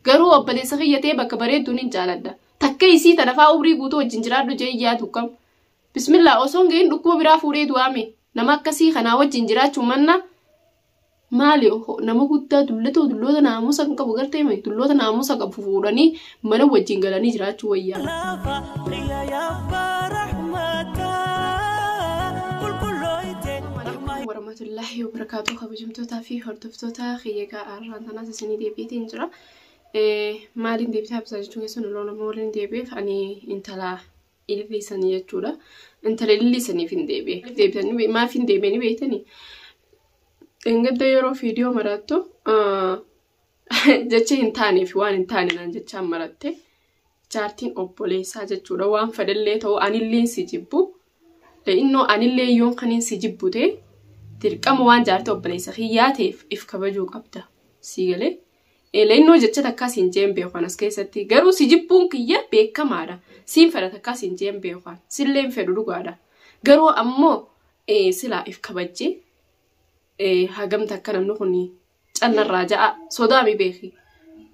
Garuu obboleessa kiyya ta'ee bakka bareedduun hin jaaladha. Takka isii tana fa'aa umrii guutuu wajjin jiraadhu jee yaadu kam. Bismillaa osoon gahin dhukkuba biraa fuudhee du'aame. Nama akkasii kanaa wajjin jiraachuun manna maali nama guddaa dullatoo dulloota naamusa hin qabu gartee dulloota naamusa qabu fuudhanii mana wajjin galanii jiraachuu wayya. Lafa xiyya yabbaa rahmataa qulqullooyte rahmaa warahmatullaahi wabarakaatuu kabajamtootaa fi hordoftoota kiyyagaa arraan tanaas isinii deebiitiin jira. Maaliin deebitaa bisaa jechuun keessan loon amma waliin deebiif ani intala ilillee sanii jechuudha. Intala ilillee saniif hin deebi'e. Deebitanii maaf hin deebi'anii beektanii? Engadda yeroo viidiyoo maraattu jecha hin taanee fi waan hin taane naan jechaan maratte jaartiin obboleessaa jechuudha waan fedhellee ta'u anilleen si jibbu innoo anillee yoon kaniin si jibbu ta'e dirqama waan jaartii obboleessa kiyyaa ta'eef if kabajuu qabda sii galee innoo jecha takkaa siin jeen beekan as keessatti garuu si jibbuun kiyya beekamaadha siin fedha takkaa siin jeen beekan silleen fedhu dhugaadha garuu ammoo silaa if kabajjee hagamta akka namni kun callarraa ja'a sodaami beeki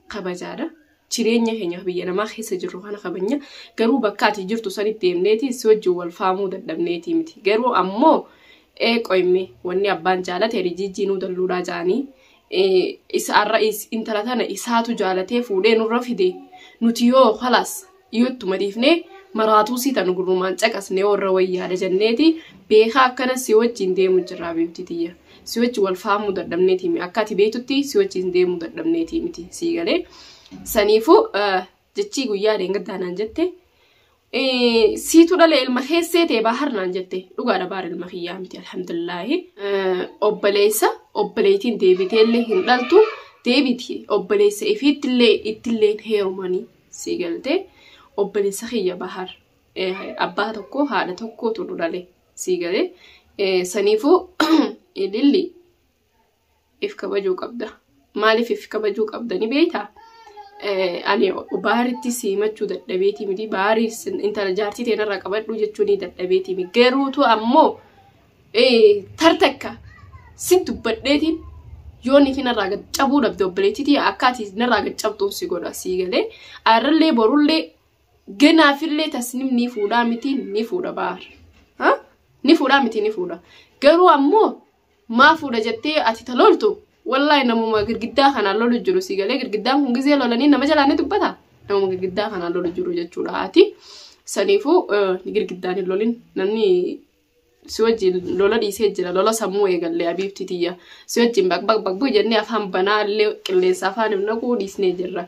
kabajaadha. Jireenya keenyaaf biyya namaa keessa jirru kana kabajna garuu bakka ati jirtu sanitti deemneeti si wajjin wal faamuu dadhabneeti miti garuu ammoo ee qoyme wanni abbaan jaalate ani jijjiinuu dalluudhaa ja'anii isa arra intala tana isaatu jaalatee fuudhee nurra fide nuti yoo kalaas yoo ittuma dhiifnee maraatuu sii tan gurrumaan caqasnee warra wayyaadha jenneeti beekaa akkana si wajjin deemu jirra habiibtii tiyya si wajji wal faamuu dadhabneeti mi akka ati beektutti si wajjin deemuu dadhabneeti miti sii galee saniifuu jechii guyyaa deengaddaa naan jette siitu dhale ilma keessee ta'e baahar naan jette dhugaadha baar ilma kiyyaa miti alhamdulillaahi obboleessa obboleetiin deebiteellee hin dhaltu deebiti obboleessa ifiittillee ittillee heerumanii sii galte obboleessa kiyya bahar abbaa tokko haadha tokkootu nu dhale sii gale saniifuu ililli if kabajuu qabda maaliif if kabajuu qabda ni beektaa ani baaritti siimachuu dadhabeeti miti baarii intala jaartii teenarraa qabadhuu jechuun dadhabeeti miti garuutu ammoo tar takka sin dubbadheetiin yoo niitii narraa gad cabuu dhabde obboleettiitii akkaati narraa gad cabxuun si godha sii galee arrallee borullee ganaafillee tasnim ni fuudhaa miti ni fuudha baar ni fuudhaa miti ni fuudha garuu ammoo maa fuudha jettee ati talooltu wallahi namuma girgiddaa kanaan lolu jiru sii galee girgiddaan kun gizee lolanii nama jalaa ni dubbata namuma girgiddaa kanaan lolu jiru jechuudha ati saniifuu girgiddaan hin lolin namni si wajjin lola dhiisee jira lola sammuu eegallee abiibti tiyya si wajjin baqbaq baqbuu jennee afaan banaa illee qilleensa afaan hin naquu dhiisnee jirra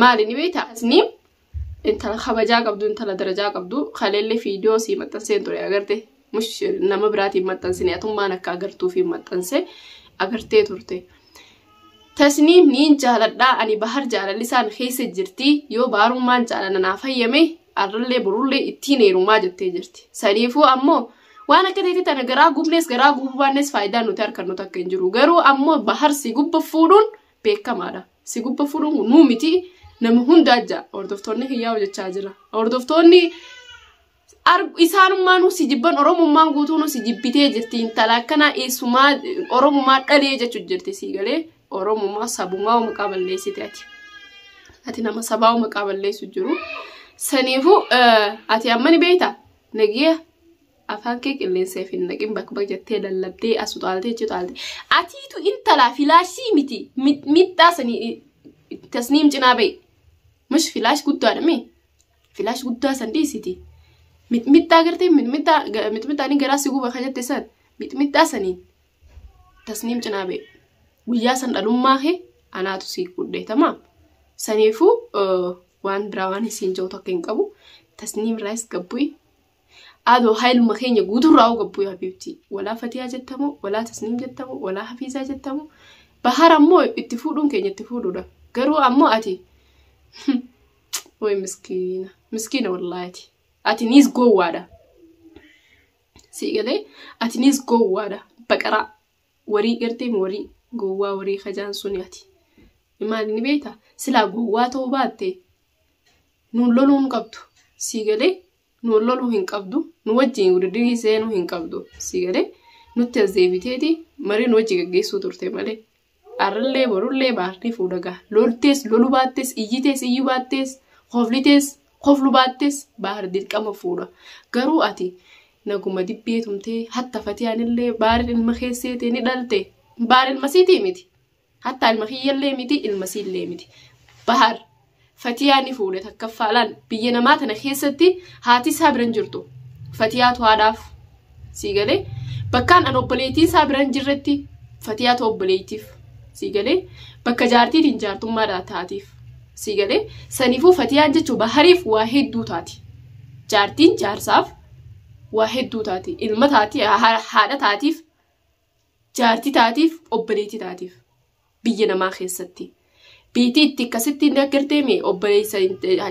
maali ni beekta asni intala kabajaa qabdu intala darajaa qabdu kaleellee fiidiyoo sii maxxanseen ture agarte mush nama biraatiin maxxansine atummaan akka agartuufi maxxanse agartee turte. Tasniim niin jaaladhaa ani bahar jaalallisaan keessa jirti yoo baarummaan jaalala naaf hayyame arrallee borullee ittiin heerumaa jettee jirti saniifuu ammoo waan akka teetii tana garaa gubnees garaa gubuu baannees faayidaan nuti harkannu takka hin jiru garuu ammoo bahar si gubba fuudhuun beekamaadha si gubba fuudhuun kun nuu miti nama hundaa ja'a hordoftoonni kiyyaa hojjechaa jira hordoftoonni isaanummaanuu si jibban oromummaan guutuunuu si jibbitee jirti intala akkanaa eessumaa oromummaa dhalee jechuu jirti sii galee oromummaa sabumaa maqaa balleessite ati ati nama sabaa maqaa balleessu jiru saniifu ati amma ni beekta nagiya afaan kee qilleensa fi naqin bakka bakka jettee lallabdee as utaaltee jettee utaaltee atiitu intalaa filaashii miti miidhaa sanii tasniim cinaa bahe mish filaash guddaadha mee Filaash guddaa san dhiisiti. Mixmixxaa gartee mixmixxaa ga- mixmixxaanii garaa si guba ka jette san mixmixxaa saniin tasniim cinaa ba'e. Guyyaa san dhalummaa kee anaatu si fudhe tamaam. Saniifuu eh, waan biraa waan isiin ja'u takka hin qabu. Tasniim irraayis gabbu'i. Ado hailuma keenya guuturraa hoo gabbuu habiibti. Walaa fatiyaa jettamoo, walaa tasniim jettamoo, walaa hafiizaa jettamoo. Bahar ammoo itti fuudhuun keenya itti fuudhuudha. Garuu ammoo ati way miskiina. Miskiina wallaahi ati. Ati niis gowwaadha. Sii galee ati niis gowwaadha. Baqaraa warii gartee warii gowwaa warii kajaan suni ati. Maal ni beekta? Silaa gowwaa ta'uu baatte nuun loluu hin qabdu. Sii galee nu wal loluu hin qabdu nu wajjin wudiddirii seenuu hin qabdu si galee nutti as deebiteeti marii nu wajji gaggeessuu turte malee arrallee borullee baartee fuudha gaha loltees lolu baattees iyyitees iyyu baattees koflitees koflu baattees baar dirqama fuudha garuu ati naguma dibbee tumtee hatta fatiyaanillee baar ilma keesseetee ni dhalte baar ilma siitii miti Hattaa ilma kiyyallee miti ilma siillee miti. Bahar Fatiyaa ni fuudhe takkaffaa laal biyya namaa tana keessatti haati isaa biran jirtu. Fatiyaatu haadhaaf sii galee bakkaan an obboleettiin isaa biran jirretti Fatiyaatu obboleettiif sii galee bakka jaartiitiin jaartummaadhaa taatiif sii galee saniifuu Fatiyaan jechuun bahariif waa hedduu taati. Jaartiin jaarsaaf waa hedduu taati. Ilma taati haadha taatiif jaarti taatiif obboleetti taatiif biyya namaa keessatti biitii itti akkasitti inni aggartee mee obboleessa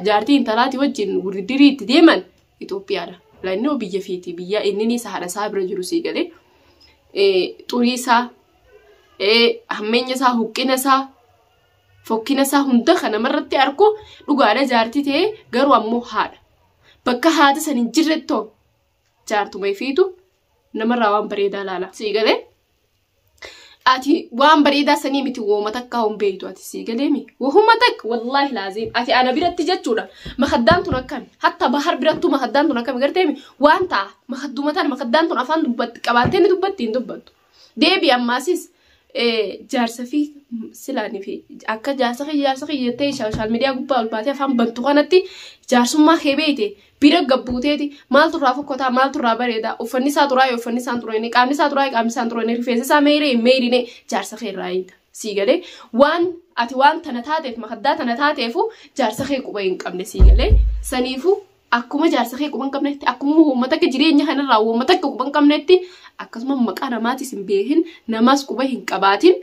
jaartii intalaati wajjin wurdirii itti deeman Itoophiyaadha. Laannoo biyya fiiti biyya inni sahaadha isaa bira jiru sii galee xurii isaa hammeenya isaa huqqina isaa fokkina isaa hunda kan namarratti argu dhugaadha jaartii ta'ee garuu ammoo haadha. Bakka haati san hin jirrettoo jaartuma ifiitu namarraa waan bareedaa laala sii galee ati waan bareedaa sanii miti wooma takkaa hin beektu ati sii galee mi wohuma takka wallaahi laaziim ati ana biratti jechuudha makaddaan tun akkami hatta bahar birattuu makaddaan tun akkami gartee mi waan ta'a makadduma tana makaddaan tun afaan dubbatti qabaattee ni dubbatti hin dubbattu Deebi ammaasis jaarsa fi silaanii fi akka jaarsa kiyya jaarsa kiyya jettee sooshaal miidiyaa gubbaa ol baatee afaan bantu kanatti jaarsummaa kee beeyte bira gabbuuteeti maaltu irraa fokkotaa maaltu irraa bareedaa uffanni isaa turaa yoo uffanni isaan turee qaamni isaa turaa qaamni isaan turee rifeensi isaa meeyree hin meeyrine jaarsa kee irraa eegda sii galee waan ati waan tana taateef makaddaa tana taateefu jaarsa kee quba hin qabne sii galee saniifu Akkuma jaarsa kee quban qabnetti, akkuma uummata akka jireenya kanarraa uummata akka quban qabnetti, akkasuma maqaa namaatis hin beekin, namaas quba hin qabaatin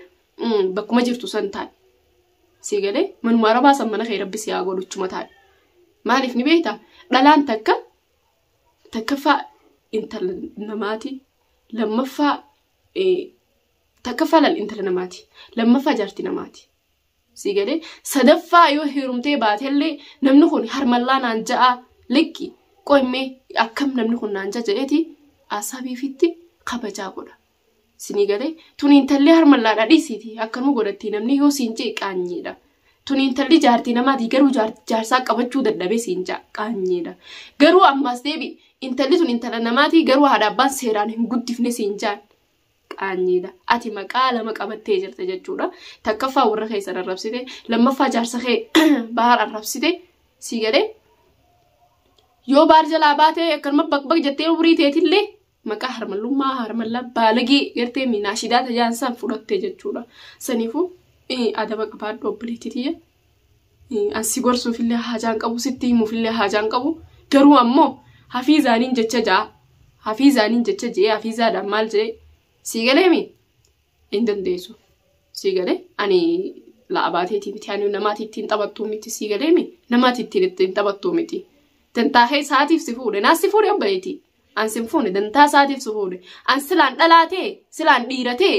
bakkuma jirtu san taa'e. Sii galee manuma arabaa san mana kee rabbi si haa godhu chuma taa'e. Maaliif ni beektaa? Dhalaan takka takkaffaa intala namaati. Lammaffaa takkaffaa laal intala namaati. Lammaffaa jaarti namaati. Sii galee sadaffaa yoo heerumtee baatellee namni kun harmallaa naan ja'a likki qoimmee akkam namni kun naan ja'a jedheeti asabiifitti kabajaa godha. Sinii galee tun intallee harmallaadha dhiisiiti akkanuma godhatti namni yoo siin jee qaanyeedha. Tun intalli jaartii namaati garuu jaarsaa qabachuu dadhabee siin ja'a qaanyeedha. Garuu ammaas deebi intalli tun intala namaati garuu haadha abbaan seeraan hin guddifne siin jaan qaanyiidha. Ati maqaa lama qabattee jirta jechuudha. Takkaffaa warra keessan arrabsite, lammaffaa jaarsa kee bahaar arrabsite sii galee. Yoo baar jalaa baatee akkanuma baqbaq jettee umrii teetillee maqaa harmallummaa harmallaa baalagee gartee miinaashidaa tajaan san fudhatte jechuudha. Saniifuu adaba qabaadhu obboleetti tiyya An si gorsuufillee haajaan qabu sitti himuufillee haajaan qabu garuu ammoo hafiizaaniin jecha ja'a hafiizaaniin jecha je'ee hafiizaadhaan maal je'ee sii galeemi hin dandeessu sii galee ani la'abaateetii miti ani namaati ittiin taphattuu miti sii galeemi namaati ittiin ittiin taphattuu miti dantaa kee isaatiif si fuudhe naas si fuudhe abbayeetii an sin fuune dantaa isaatiif si fuudhe an silaan dhalaatee silaan dhiiratee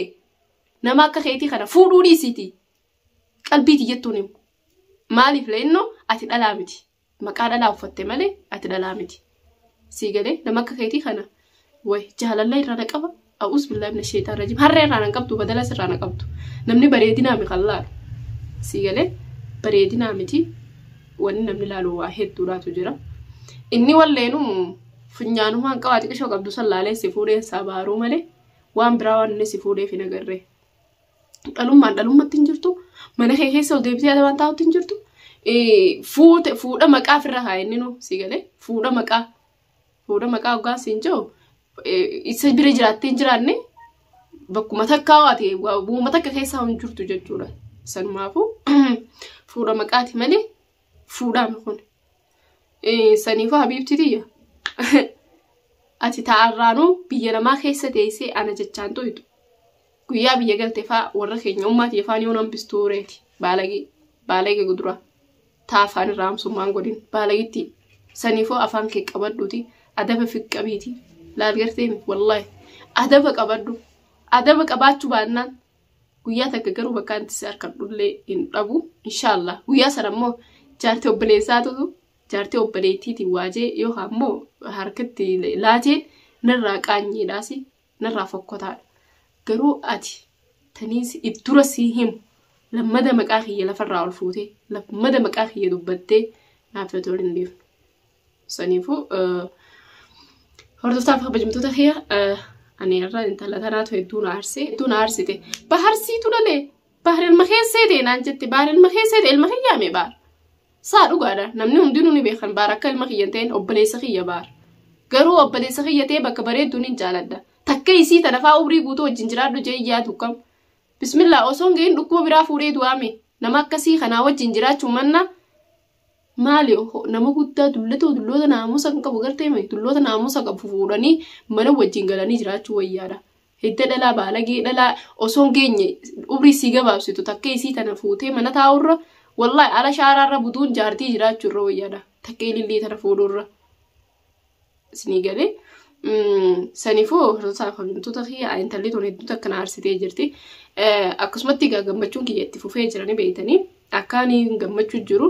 nama akka keetii kana fuudhuu dhiisiitii Qalbii tiyyattuu ni himu. Maaliif leennoo ati dhalaa miti. Maqaa dhalaa uffatte malee ati dhalaa miti. Sii galee nama akka keetii kana way jaalalla irraa na qaba. A'uus billaa ibna sheexaan rajim. Harree irraa na qabdu badala sirraa na qabdu. Namni bareedinaa mi kan laalu. Sii galee bareedinaa miti wanni namni laalu waa hedduudhaatu jira. Inni walleenu funyaanumaan qabaa xiqishoo qabdu san laalee si fuudheen isaa baaruu malee waan biraa waan inni si fuudheef hin agarree. dhalummaan dhalummatti hin jirtu mana kee keessa ol deebitee adabaan taa'utti hin jirtu fuute fuudha maqaa ofirra haa inni nuu si galee fuudha maqaa fuudha maqaa ogaa siin jiru isa bira jiraattee hin jiraanne bakkuma takkaa waate bu'uma takka keessaa hin jirtu jechuudha sanumaafuu fuudha maqaati malee fuudhaan kun Saniifuu habiibti tiyya ati taa'arraanuu biyya namaa keessa teessee ana jechaan tuytu guyyaa biyya galte faa warra keenya ummaa tiyya faan yoon hambistuu reeti baalagii baalagee guduraa taa afaan irraa hamsummaan godhin baalagitti saniifuu afaan kee qabadhuuti adaba fiqqabiiti laal garteemi wallaahi adaba qabadhu adaba qabaachuu baannaan Guyyaa takka garuu bakka itti si harkadhullee hin dhabu. Inshaallah guyyaa sana immoo jaartii obboleessaatu jaartii obboleettiitiin waajee yookaan immoo harkatti laateen narraa qaanyiidhaas narraa fokkotaadha. Garuu ati taniis if dura sii himu lammada maqaa kiyya lafarraa ol fuutee lammada maqaa kiyya dubbattee naaf yoo ta'u hin dhiifne. Saniifuu hordoftaaf kabajamtoota kiyya ani irra intala tanaatu hedduu na aarsee hedduu na aarsite baharsiitu lalee bahar ilma keessee ta'e naan jette bahar ilma keessee ta'e ilma kiyyaa mee bahar saa dhugaadha namni hundinuu ni beekan bahar akka ilma kiyya hin ta'in obboleessa kiyya bahar garuu obboleessa kiyya ta'e bakka bareedduun hin jaaladha takka isii tana faa umrii guutuu wajjin jiraadhu jee iyyaa tukkam bismillah osoo hin gahin dhukkuba biraa fuudhee du'aame nama akkasii kanaa wajjin jiraachuu manna Maali ohoo nama guddaa dullatoo dulloota naamusa hin qabu gartee mee dulloota naamusa qabu fuudhanii mana wajjin galanii jiraachuu wayyaadha. Hidda dhalaa baalagee dhalaa osoo hin geenye umrii sii gabaabsitu takkee isii tana fuutee mana taa'urra wallahi ala shaaraarra buduun jaartii jiraachuurra wayyaadha takkee ilillii tana fuudhuurra. Isinii galee. Saniifuu hordoftoota kabajamtoota kiyya intalli tun hedduutu akkana aarsitee jirti. Akkasumatti egaa gammachuun kiyya itti fufee jiranii beeytanii akka ani gammachuu jiru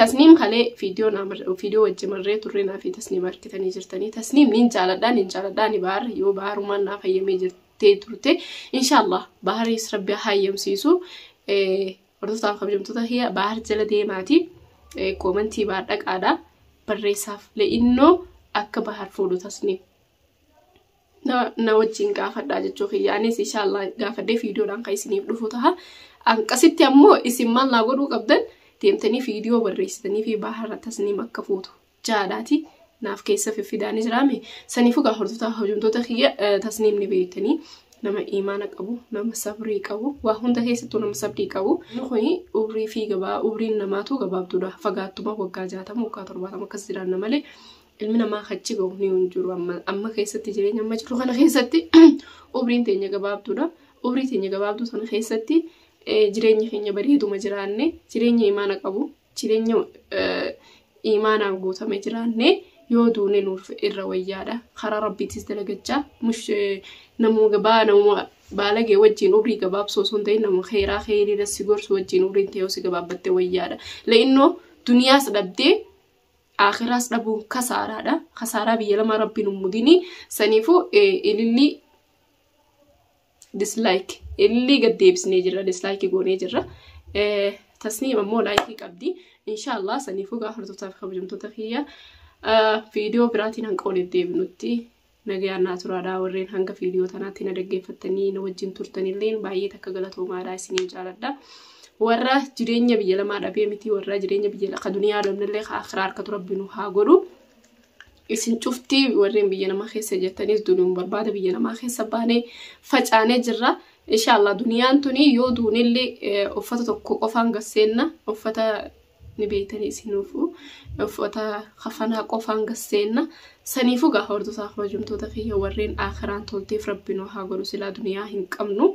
tasniim kalee viidiyoo wajji marree turree naaf tasniim harkitanii jirtanii tasniim niin jaaladhaa niin jaaladhaa ani baar yoo baarumaan naaf hayyamee jirtee turte inshaallah baaris rabbi hayyamsiisu Hordoftoota kabajamtoota kiyya baar jala deemaati koomantii baar dhaqaadha barreessaaf le'innoo akka baar fuudhu tasni na wajjin gaafadhaa jechuu kiyya anis inshaallah gaafadhee fiidiyoodhaan kan isiniif dhufu taha anqasitti ammoo isin maal naa godhuu qabdan deemtanii fiidiyoo barreessitanii fi baar tasniim akka fuutu jaalaati naaf keessa fiffidaani jiraame saniifuu gaa hordoftaa hojumtoota kiyya eh, tasniim ni beektanii nama imaana qabu nama sabrii qabu waa hunda keessattuu nama sabrii qabu inni kuni umrii fi gabaa umriin namaatu gabaabduudha fagaattuma waggaa jaatama waggaa torbaatama akkas jiraanna malee ilmi namaa kachi gahu ni hin jiru amma amma keessatti jireenya amma jiru kana keessatti umriin teenya gabaabduudha umrii teenya gabaabduu sana keessatti eh, jireenyi keenya bareeduma jiraanne jireenya imaana qabu Jireenya iimaanaan guutame jiraanne yoo duune nuuf irra wayyaadha. Karaa rabbiitis dalagachaa mush namuma gabaa namuma baalagee wajjin umrii gabaabsoo osoo hin ta'in nama keeraa keeriirra si gorsu wajjin umriin ta'ee si gabaabbatte wayyaadha. La'innoo duniyaas dhabdee aakiraas dhabuun kasaaraadha. Kasaaraa biyya lamaa rabbiin hin mudini. Saniifuu ilillii dislike illee gad deebisnee jirra dislike goonee jirra tasniim ammoo laayikii qabdi inshaallah saniifuu gaafatattootaa fi kabajamtoota kiyya viidiyoo biraatiin hanga walitti deebinutti nagayaan naa turaadhaa warreen hanga viidiyoo tanaatti na dhaggeeffattanii na wajjin turtanillee baay'ee takka galatoomaadhaa isiniin jaaladha. warra jireenya biyya lamaa dhabee miti warra jireenya biyya lafa duniyaa dhabnellee akhiraa harkatu rabbi nu haa godhu Isin cufti warreen biyya namaa keessa jirtanis dunuun barbaada biyya namaa keessa baanee facaanee jirra. Inshaallah duniyaan tuni yoo duunillee eh, uffata tokko qofaan gasseenna uffata ni beeytanii isinuufu uffata kafanaa qofaan gasseenna saniifu gaa hordotaa kabajamtoota kiyya warreen aakiraan tolteef rabbi nu haa godhu silaa duniyaa hin qabnu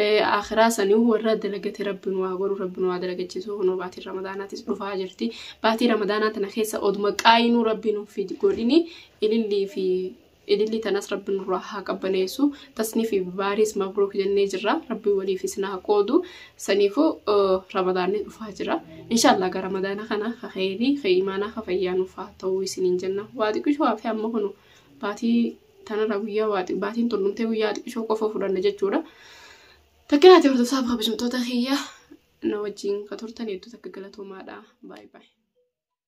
Aakhiraa saniu warra dalagate rabbi nu haa godhu rabbi nu haa dalagachiisu kunoo baatiin ramadaanaatis dhufaa jirti baatii ramadaanaa tana keessa oduma qaayinuu rabbi nuuf hin godhini ilillii fi ilillii tanas rabbi nurraa haa qabbaneessu tasnii fi baariis mabruuk jennee jirra rabbi waliif isin haa qoodu saniifu ramadaanni dhufaa jira inshaallah gara ramadaana kana ka kheyrii ka imaanaa ka fayyaa nuuf haa ta'uu isiniin jenna waa xiqqishu hafe amma kunu baatii Tanarraa guyyaa waa xi- baatiin tun dhumtee guyyaa xiqqishoo qofa fudhanna jechuudha. Takka naati hordoftoota fi kabajamtoota kiyya na wajjin ka turtan hedduu takka galatoomaadha. Baay baay.